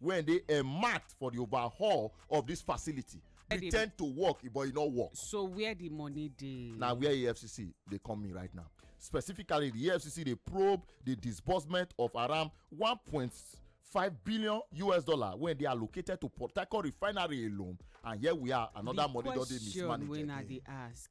wey dey earmarked for the overhaul of this facility pretend to work but e no work. so where the money dey. na where efcc dey come me right now specifically the efcc dey probe the disbursement of around one point five billion us dollar wey dey allocated to port harcourt refinery alone and here we are another money don dey mismanaged again. the question wey na dey ask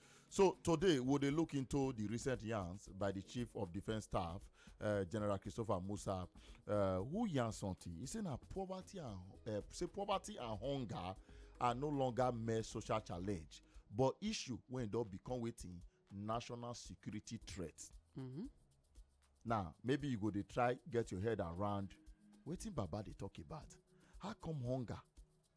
So today we dey look into the recent yarns by the chief of defence staff, uh, General Christopher Musa, uh, who yarn something. He say na poverty and uh, say poverty and hunger are no longer mere social challenge, but issue wey don become wetin national security threat. Mm -hmm. Now maybe you go dey try get your head around wetin Baba dey talk about. How come hunger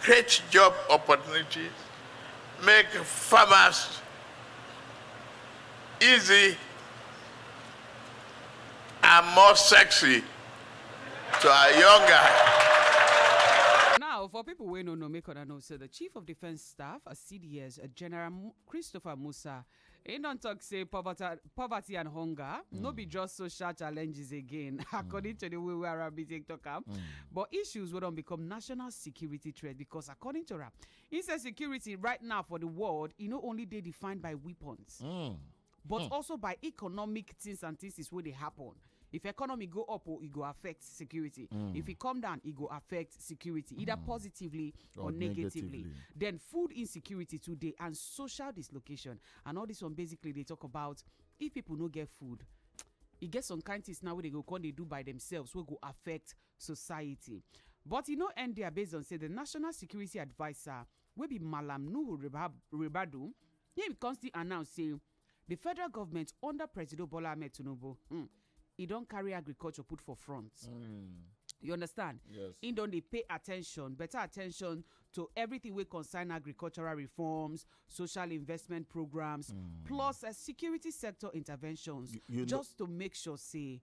create job opportunities, make farmers easy and more sexy to our young guys. Now, for people wey no know, make una know say the Chief of Defence Staff, CDS, General Mu- Christopher Musa, He don talk say poverty, poverty and hunger mm. no be just social challenges again, mm. according to the way we are busy talk am. Mm. But issues will don become national security threat because according to her, insecurity right now for the world, e no only dey defined by weapons. Mm. but mm. also by economic things and things wey dey happen. if economy go up oh, e go affect security mm. if e come down e go affect security either mm. positively or, or negatively. negatively then food insecurity today and social dislocation and all this one basically they talk about if people no get food e get some kind things now wey dey go come dey do by themselves wey go affect society but e no end there based on say the national security adviser wey be malam nuhu ribadu him come still announce say The federal government under Presido Bola Ahmed Tinubu, hmm, e don carry agriculture put for front. Mm. you understand yes im don dey pay attention better attention to everything wey concern agricultural reforms social investment programs mm. plus uh, security sector interventions you, you just to make sure say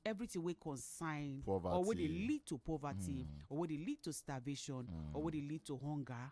everything wey concern poverty. or wey dey lead to poverty mm. or wey dey lead to starvation mm. or wey dey lead to hunger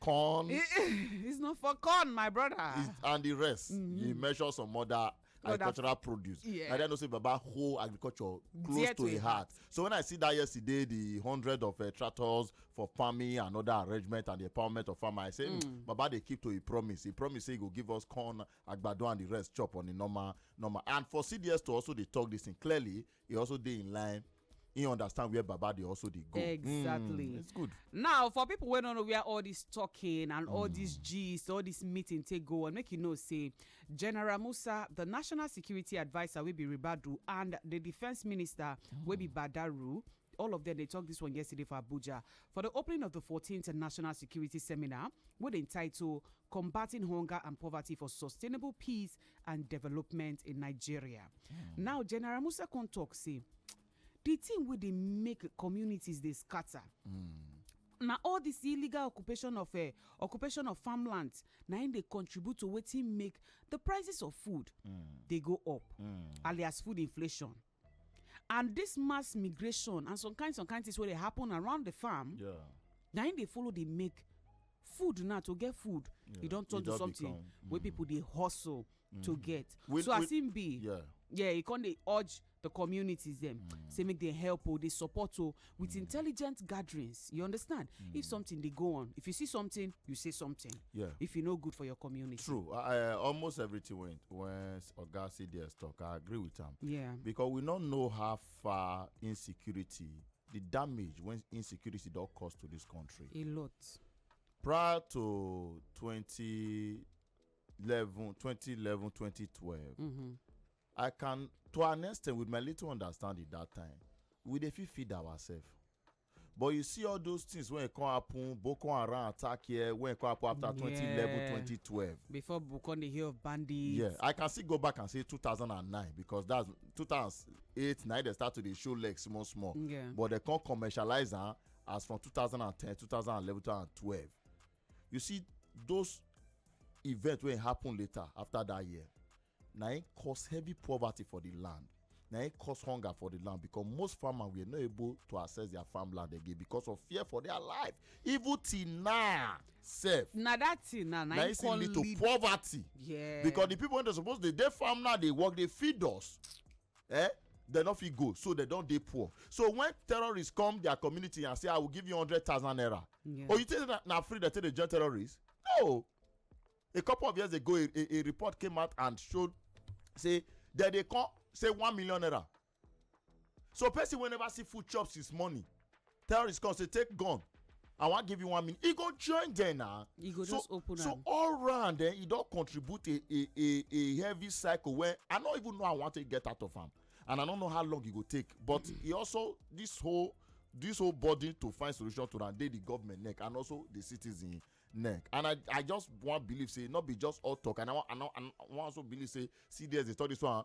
corn. It, it's not for corn, my brother. and the rest. Mm -hmm. You measure some other agricultural produce yeah. na then know say baba whole agriculture close to a heart so when i see that yesterday the hundred of uh, tractors for farming and other arrangement and the empowerment of farmer i say hmm, mm. baba dey keep to a promise he promise say he go give us corn agbado and the rest chop on the normal normal and for cds to also dey talk this thing clearly e also dey in line he understand where baba dey also dey go exactly mm, it's good now for people wey no know where all this talking and mm. all this hmm. gist all this meeting take go on make you know say general musa the national security adviser wey be ribadu and the defence minister mm. wey be hmm. badaru all of them they talked this one yesterday for Abuja for the opening of the 14th National Security Seminar with the title Combating Hunger and Poverty for Sustainable Peace and development in nigeria hmm. now general musa come talk say the thing wey dey make communities dey scatter hmm. na all this illegal occupation of eh, occupation of farmlands na im dey contribute to wetin make the prices of food hmm. dey go up alias food inflation and this mass migration and some kind some kind things wey dey happen around the farm yeah. na im dey follow dey make food now to get food yeah. e don turn to something become, mm. wey people dey hustle mm. to get we, so as im be yeah yeah e con dey urge the communities dem mm. say make dem help o oh, dey support o oh, with intelligent gatherings you understand mm. if something dey go on if you see something you say something yeah if you know good for your community true uh, almost everything when when oga cds talk i agree with am yeah because we no know how far insecurity the damage when insecurity don cause to this country a lot prior to 2011 2011 2012 mm -hmm. I can to an extent with my little understanding that time we dey fit feed ourselves but you see all those things wey come happen Boko Haram attack here wey come happen after 2011 yeah. 2012 before we come dey hear of bandits yeah I can still go back and say 2009 because that's 2008 na they start to dey show legs small small yeah. but they come commercialize am as from 2010 2011 2012 you see those events wey happen later after that year na it cause heavy poverty for the land na it cause hunger for the land because most farmers were not able to access their farmland again because of fear for their life even till now sef na that thing na na it still lead to poverty yes because the people wey dey suppose dey dey farm now dey work dey feed us eh dem no fit go so dem don dey poor so when terrorists come their community and say i will give you hundred thousand naira yeah. oh you think na, na free dem take dey join terrorists no a couple of years ago a, a, a report came out and showed say dem dey come say one million naira so person wey never see food chop since morning terrorists come say take gun i wan give you one minute e go join dem na e go just open am so all round eh e don contribute a a a a heavy cycle wey i no even know how i wan take get out of am and i no know how long e go take but e also this whole this whole burden to find solution to am dey the government neck and also the citizen neck and i i just wan believe say no be just all talk and i wan and i wan also believe say cds dey talk this one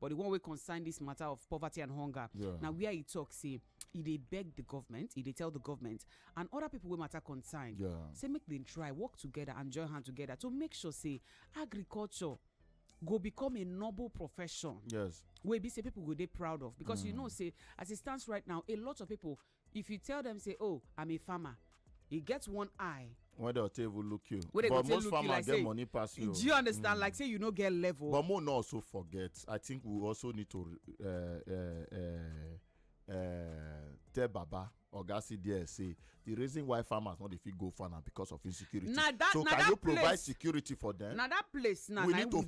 but the one wey concern this matter of poverty and hunger yeah. na where e talk say e dey beg the government e dey tell the government and other people wey matter concern yeah. say make dem try work together and join hand together to make sure say agriculture go become a noble profession. Yes. Wey be say people go they proud of because mm. you know say as it stands right now, a lot of people if you tell them say oh i'm a farmer e get one eye when dem take even look you but most farmers get money pass you do you understand mm. like say you no get level but more no also forget i think we also need to uh, uh, uh, tell baba oga cds say the reason why farmers no dey fit go farm na because of insecurity so can you provide security for them na that place na we need to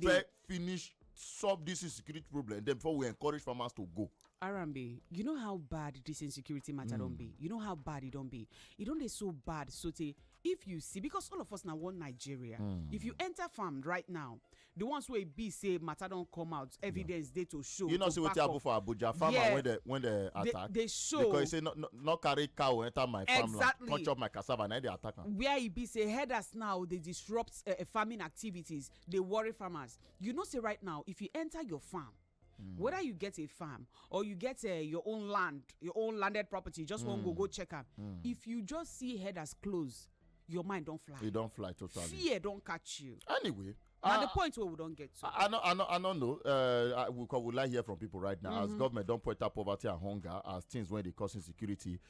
finish solve this insecurity problem then before we encourage farmers to go. arambe you know how bad this insecurity matter mm. don be you know how bad e don be e don dey so bad so tey if you see because all of us na one nigeria mm. if you enter farm right now the ones wey be say matter don come out evidence dey to show you know say wetin happen for abuja farmer yeah. when dem when dem attack dey show because e say no no no carry cow enter my farmland exactly. come chop my cassava na e dey attack am. where e be say herders now dey disrupt uh, farming activities dey worry farmers you know say right now if you enter your farm Mm. whether you get a farm or you get uh, your own land your own landed property just mm. wan go go mm. check am mm. if you just see headers close your mind don fly e don fly totally fear don catch you anyway na uh, the point wey we don get to. i no i no i no know uh, we we like hear from people right now mm -hmm. as mm-hmm. government don point out poverty and hunger as things wey dey cause insecurity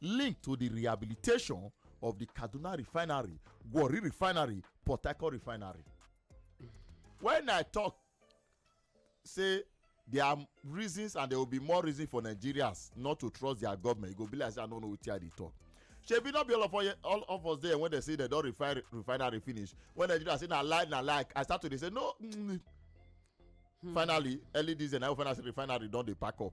linked to di rehabilitation of di kaduna refinery warri refinery port harcourt refinery when i talk say there are reasons and there will be more reasons for nigerians not to trust their government e go be like say i no know wetin i dey talk shebi no be all of us all of us there when they say they don refine refinery finish when nigeria say na lie na lie i start to dey say no mm, hmm. finally early this year na we find out say refinery don dey pack up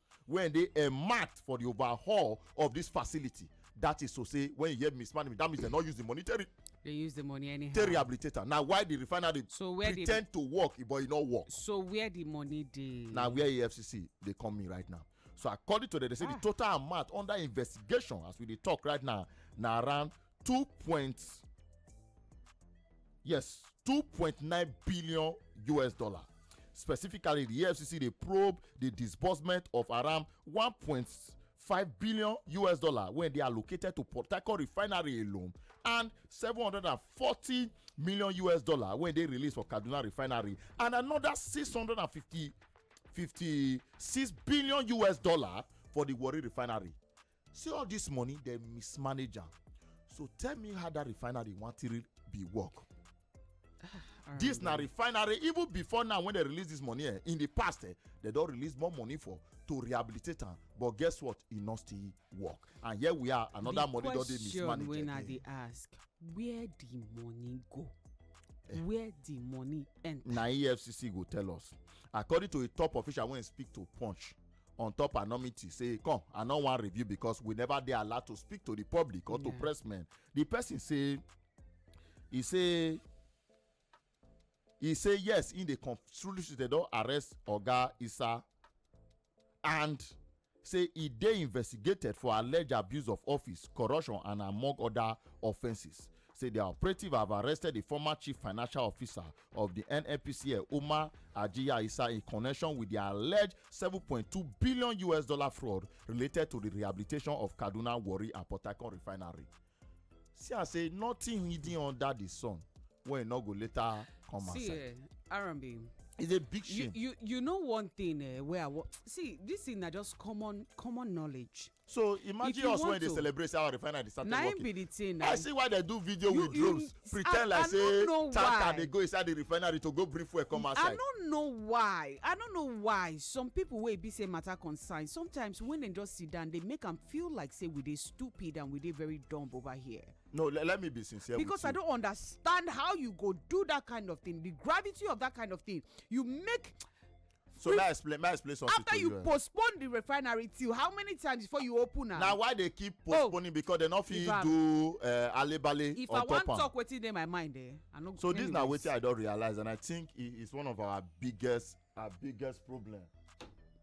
wey dey earmarked for di overhaul of dis facility that is to say when you hear mismanagement that means dem no use the money take they use the money anyhow take rehabilitate am na why the refinery so where pretend the, to work but e no work. so where the money dey. na where efcc dey come in right now so according to them they say ah. the total amount under investigation as we dey talk right now na around two point yes two point nine billion us dollar specifically the efcc dey probe the disbursement of around one point five billion us dollar wey dey allocated to port harcourt refinery alone and seven hundred and forty million us dollar wey dey released for kaduna refinery and another six hundred and fifty fifty six billion us dollar for the warri refinery See all this money dem mismanage am so tell me how that refinery wan take be work. this na refinery even before now when they release this money eh, in the past eh, they don release more money for to rehabilitate am but guess what e no still work and here we are another the money don dey mismanaged again. the question wey i dey ask where the money go. Eh. where the money enter. na efcc go tell us according to a top official wey speak to punch on top anonymity say come i no wan review because we never dey allowed to speak to the public or to press men the person say he say he say yes in the constitution they don arrest oga isa and say e dey investigated for alleged abuse of office corruption and among other offences say dia operative have arrested di former chief financial officer of di nnpcl umar ajiya isa in connection wit di alleged 7.2 billion us dollar fraud related to di rehabilitation of kaduna warri and port harcourt refinery see am say nothing hidden under di sun wey no go later come outside. see eh, arambi it's a big shame. you you you know one thing eh, wey i wan see this thing na just common common knowledge. so imagine us when they celebrate say our refinery dey start to work be the thing na i see why they do video with drones pretend like say tanker dey go inside the refinery to go bring fuel come outside i no know why i no know why some people wey be say matter concern sometimes when dem just sit down they make am feel like say we dey stupid and we dey very dumb over here no let me be sincere because i don't understand how you go do that kind of thing the gravity of that kind of thing you make so may i explain may i explain something after to you you eh? postpone the refinery till how many times before you open am. na why they keep oh, postponing because they no fit do eh, alebale on top am. if i wan talk wetin dey my mind eh i no go. so this na wetin i don realize and i think it is one of our biggest our biggest problem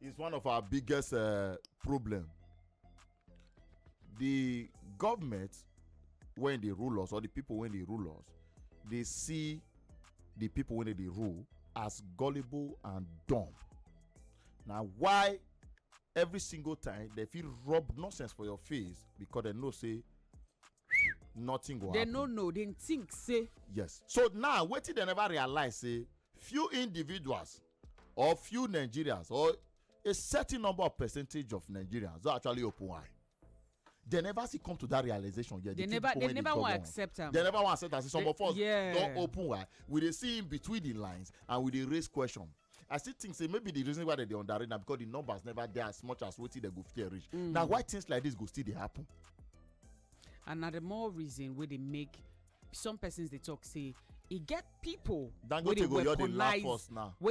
it's one of our biggest uh, problem the government wey dey rule us or the people wey dey rule us dey see the people wey dey rule as gullible and dumb na why every single time dem fit rub nonsense for your face because dem know say nothing go happen. dem no know dem think say. yes so now wetin dem never realize say few individuals or few nigerians or a certain number of percentage of nigerians don actually open eye they never see come to that realization yet. they, they never they never wan accept am. they never wan accept am say some they, of us yeah. don open eye we dey see in between the lines and we dey raise question i still think say maybe the reason why dem dey underrate na because the numbers never dey as much as wetin dem go fear reach mm. na why things like this go still dey happen. and na the more reason wey dey make some persons dey talk say e get pipo wey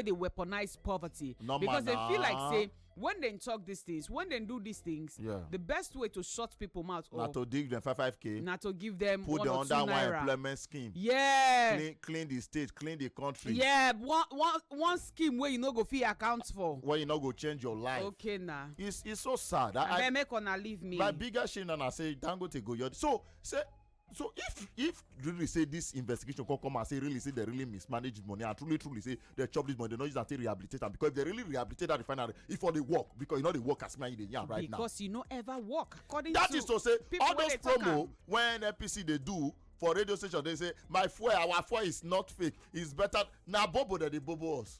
dey weaponize poverty because dem feel like say when dem talk these things when dem do these things yeah. the best way to shut people mouth na to dig them five five k na to give them put one or two naira put them under one employment scheme yeah clean clean the state clean the country yeah one one one scheme wey you no go fit account for wey you no go change your life okay na it's it's so sad i abeg make una leave me my biggest shame na na say dangote go your so say so if if really say this investigation come come and say really say they really mismanage money and truly truly say they chop this money they no use am take rehabilitate am because if they really rehabilitate that refinery e for dey work because e no dey work as me and you dey yarn right because now because e no ever work according that to that is to say all those promo wey nnpc dey do for radio station dey say my fuel our fuel is not fake it's better na bobo dem dey bobo us.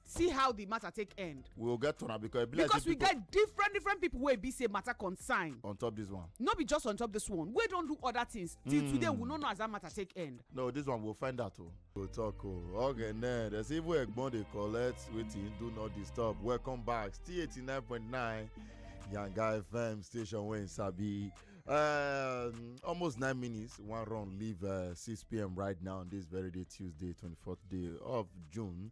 see how the matter take end we go get turn am because e be like because we get different different people wey be say matter concern on top this one no be just on top this one wey don do other things till hmm. today we no know as that matter take end no this one we go find out o oh. go talk o oh. okay now there's even egbon dey collect wetin do not disturb welcome back still eighty nine point nine yanga fm station wey sabi um, almost nine minutes one run leave uh, six pm right now on this very day tuesday twenty fourth day of june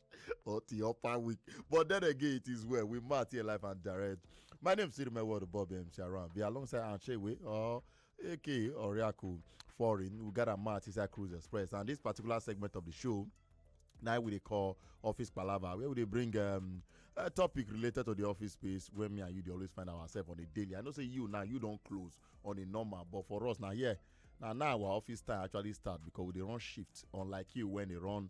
or the upper week. But then again, it is well. We might here live and direct. My name is Sirime Ward Bob M. Sharon. Be alongside Anchewe or AK Oriaku Foreign. We got a match inside Cruise Express. And this particular segment of the show now we dey call office palava where we dey bring um, a topic related to the office space where me and you dey always find ourselves on a daily i know say you now you don close on a normal but for us na here na now our office time actually start because we dey run shift unlike you when dey run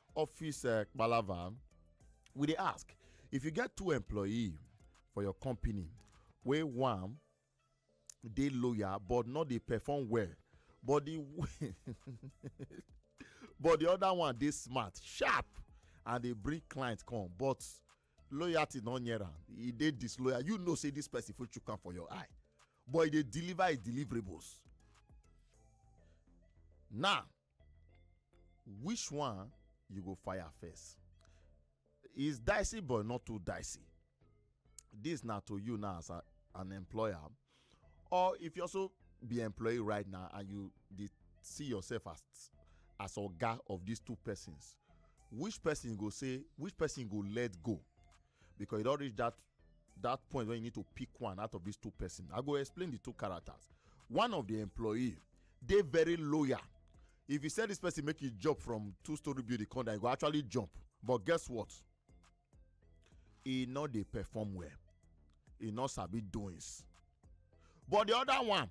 office uh, palava we dey ask if you get two employee for your company wey one dey loyal but no dey perform well but the but the other one dey smart sharp and dey bring client come but loyalty no near am e dey disloyal you know say this person fit chook am for your eye but e dey deliver his deliverables now which one you go fire first is dicey but not too dicey this na to you now as a, an employer or if you also be employee right now and you dey see yourself as as oga of these two persons which person go say which person go let go because you don reach that that point when you need to pick one out of these two person i go explain the two characters one of the employee dey very loyal if you send this person make you jump from two story building come down you go actually jump but guess what e no dey perform well e no sabi doings but the other one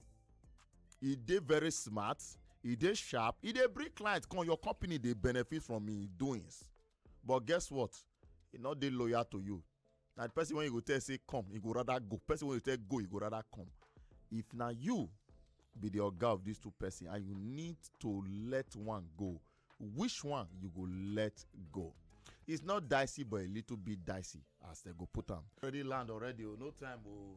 e dey very smart e dey sharp e dey bring clients come your company dey benefit from im doings but guess what e no dey loyal to you na the person wey you go tell say come he go rather go person wey you tell go he go rather come if na you be the oga of these two person and you need to let one go which one you go let go it's not dicey but a little bit dicey as they go put am already land already o oh, no time o oh.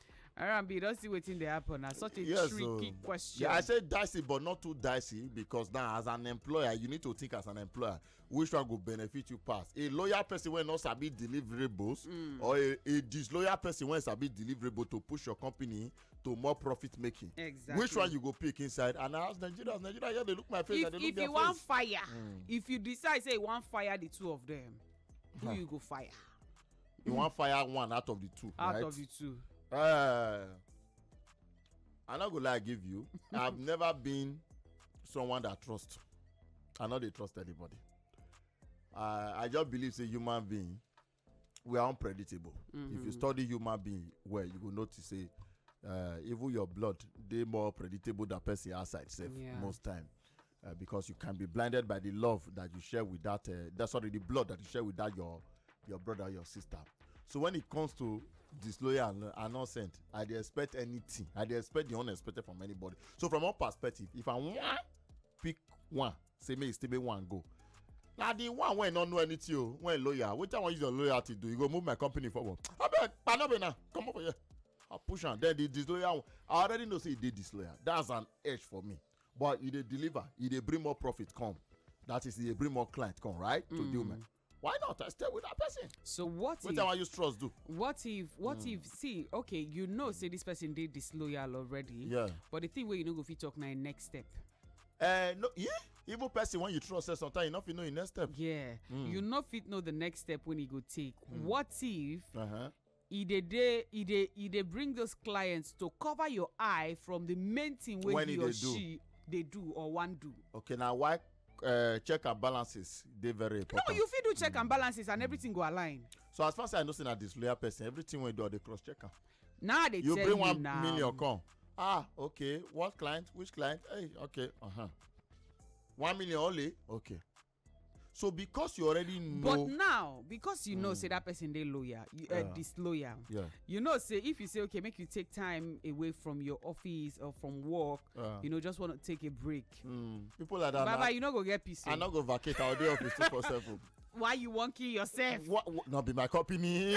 Arambi, don't see wetin dey happen na such a yes, tricky so, oh. question. Yeah, I say dicey but not too dicey because now as an employer you need to think as an employer which one go benefit you pass. A loyal person wey no sabi deliverables mm. or a, a disloyal person wey sabi deliverable to push your company to more profit making. Exactly. Which one you go pick inside? And I ask Nigerians, Nigeria here dey look my face if, and dey look their face. If you wan fire, mm. if you decide say you wan fire the two of them, who huh. you go fire? you mm. wan fire one out of the two out right? of the two uh, i no go lie give you i have never been someone that trust i no dey trust anybody uh, i just believe say human being we are unpredictable mm -hmm. if you mm-hmm. study human being well you go notice say uh, even your blood dey more predictable than person outside sef yeah. most time uh, because you can be blinded by the love that you share with that, uh, that sorry, the blood that you share with that your your brother, your sister. So when it comes to disloyal and, and innocent, I dey expect anything. I dey expect the unexpected from anybody. So from one perspective, if I want pick one, say make e still be one go. na the one wey no know anything o wey loyal wetin i wan use your loyalty do you go move my company forward abeg panobe na comot for here i push am then the disloyal one i already know say e dey disloyal that's an edge for me but e dey deliver e dey bring more profit come that is e dey bring more client come right to mm. deal man why not i stay with that person so what wetin i wan use trust do what if what mm. if see okay you know say this person dey disloyal already yeah but the thing wey you no go fit talk na im next step uh, no yeah even person when you trust say sometimes you no fit know your next step yeah mm. you no fit know the next step when you go take mm. what if uh -huh. e dey dey e dey e dey bring those clients to cover your eye from the main thing wey When e he or dey do. she dey do or wan do. okay na why uh, check and balances dey very no important. you fit do check and balances and everything go align so as far as i know say na disloyal person everything wey you do i dey cross check am. now i dey you tell bring you one now million come ah okay what client which client hey okay uh-huh. one million only okay so because you already know but now because you know mm. say that person dey loyal you uh, yeah. disloyal yeah. you know say if you say okay make you take time away from your office or from work yeah. you know just want to take a break mm. people like that baba you no go get peace i oh. no go vacate i go dey office two for seven why you wan kill yourself what, what, no be my company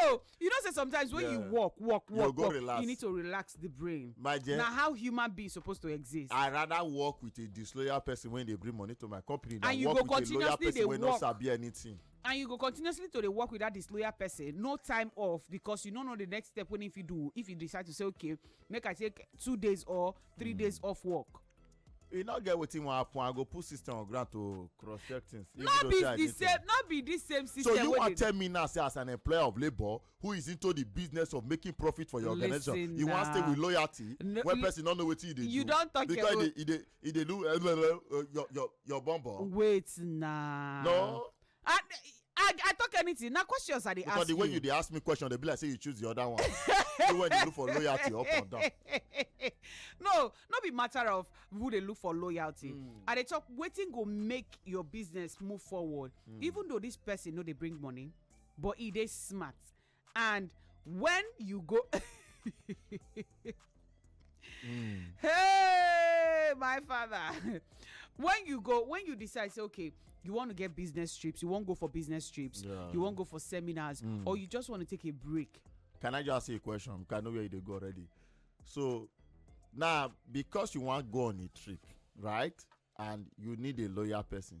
no you know say sometimes when yeah. you work work work you, work relax. you need to relax the brain my dear na how human being suppose to exist i rather work with a disloyal person when they bring money to my company than and work with a loyal person wey no sabi anything and you go continuously to dey work with that disloyal person no time off because you no know the next step wey if you do if you decide to say okay make i take two days or three mm. days off work e no get wetin wan happen i go put system on ground to cross check things. no be the same no be the same system. so you wan tell me now say as an employer of labour who is into the business of making profit for your organization Listen, you wan stay with loyalty no, when person no know wetin you dey do you don talk because your own because e dey e dey do uh, uh, uh, your your your bum bum. wait na. no I, I, I talk anything. Now questions I dey ask you. Because the way you dey ask me question, they be like say you choose the other one. you when you look for loyalty up and down. no, no be matter of who they look for loyalty. Mm. I dey talk waiting go make your business move forward. Mm. Even though this person know they bring money, but he dey smart. and when you go mm. hey my father when you go when you decide say okay you want to get business trips you won't go for business trips yeah. you won't go for seminars mm. or you just want to take a break can i just ask you a question because i know where you go already so now because you want to go on a trip right and you need a loyal person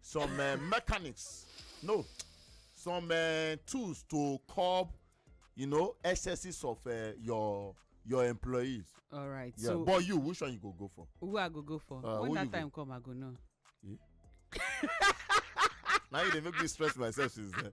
some uh, mechanics no some uh, tools to curb you know excesses of uh, your your employees. all right yeah. so but you which one you go go for. who i go go for uh, when that time go? come i go know. Yeah. now you dey make me stress myself since then.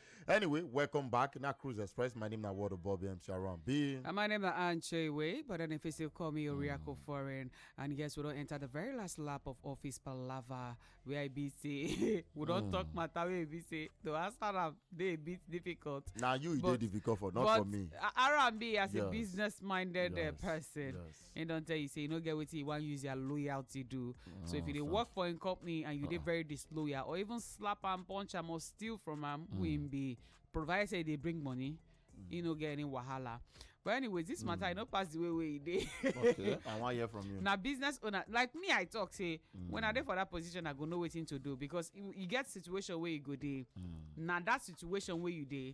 Anyway, welcome back. Now Cruise Express. My name is Wado Bobby M. Sharon B. And my name is Anche Way, but then if you still call me Oriako mm. Foreign. And yes, we don't enter the very last lap of office palava where I be say we don't mm. talk matter where be say the answer am dey bit difficult. Now you but, dey difficult for not for me. R&B as yeah. a business minded uh, yes. uh, person. Yes. He don't tell you say you no get wetin you wan use your loyalty do. so if you dey work for im company and you dey very disloyal or even slap am, punch am or steal from am, who im be, provided say e dey bring money, e no get any wahala. But anyways, this matter e no pass the way wey e dey. okay i wan hear from you na business owner like me i talk say when i dey for that position i go know wetin to do because you you get situation wey you go dey na that situation wey you dey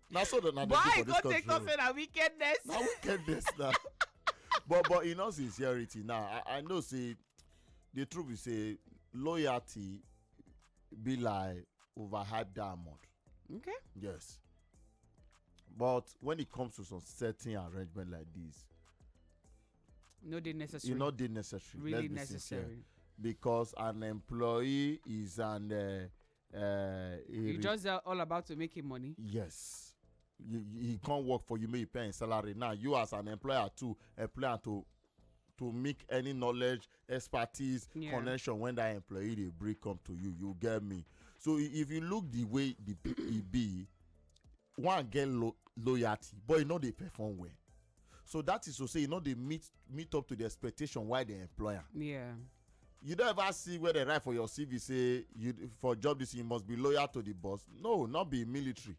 na so na dey why do for this go take talk country say na wickedness na wickedness na but but in all sincerity now i i know say the truth be say loyalty be like overhyped diamond okay yes but when it comes to some certain arrangement like this no dey necessary e no dey necessary really let's be sincere necessary because an employee is an uh, Uh, he, he just uh, all about to make him money. Yes, you, you, can't work for you. May pay him salary now. You as an employer to employer to to make any knowledge expertise yeah. connection when that employee dey bring come to you you get me so if you look the way the e be one get lo loyalty but e no dey perform well so that is to say e no dey meet meet up to the expectation why dem employ am. Yeah. you don ever see where dem write for your cv say you for job this you must be loyal to the boss no not be military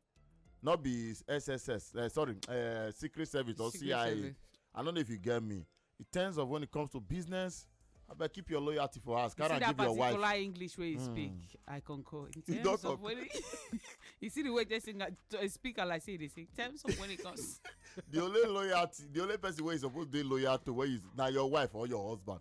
not be sss uh, eh, sorry uh, secret service or secret cia service. i don't know if you get me in terms of when it comes to business abeg keep your loyalty for us carry am give your wife. you see that particular english wey you mm. speak i concur in terms of when you see the way they sing a speaker like say they sing terms of when it comes. the only loyalty the only person wey you suppose dey loyal to wey is na your wife or your husband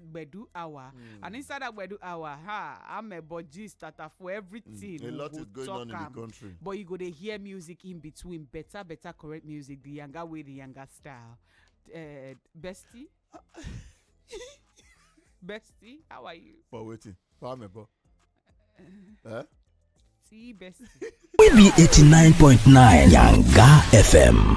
gbedu hour mm. and inside that gbedu hour ha i'm a budgie starter for everything mm. a lot is going on in the country but you go to hear music in between better better correct music the younger way the younger style uh, bestie bestie how are you for waiting for me bro uh, eh? see bestie we be 89.9 yanga fm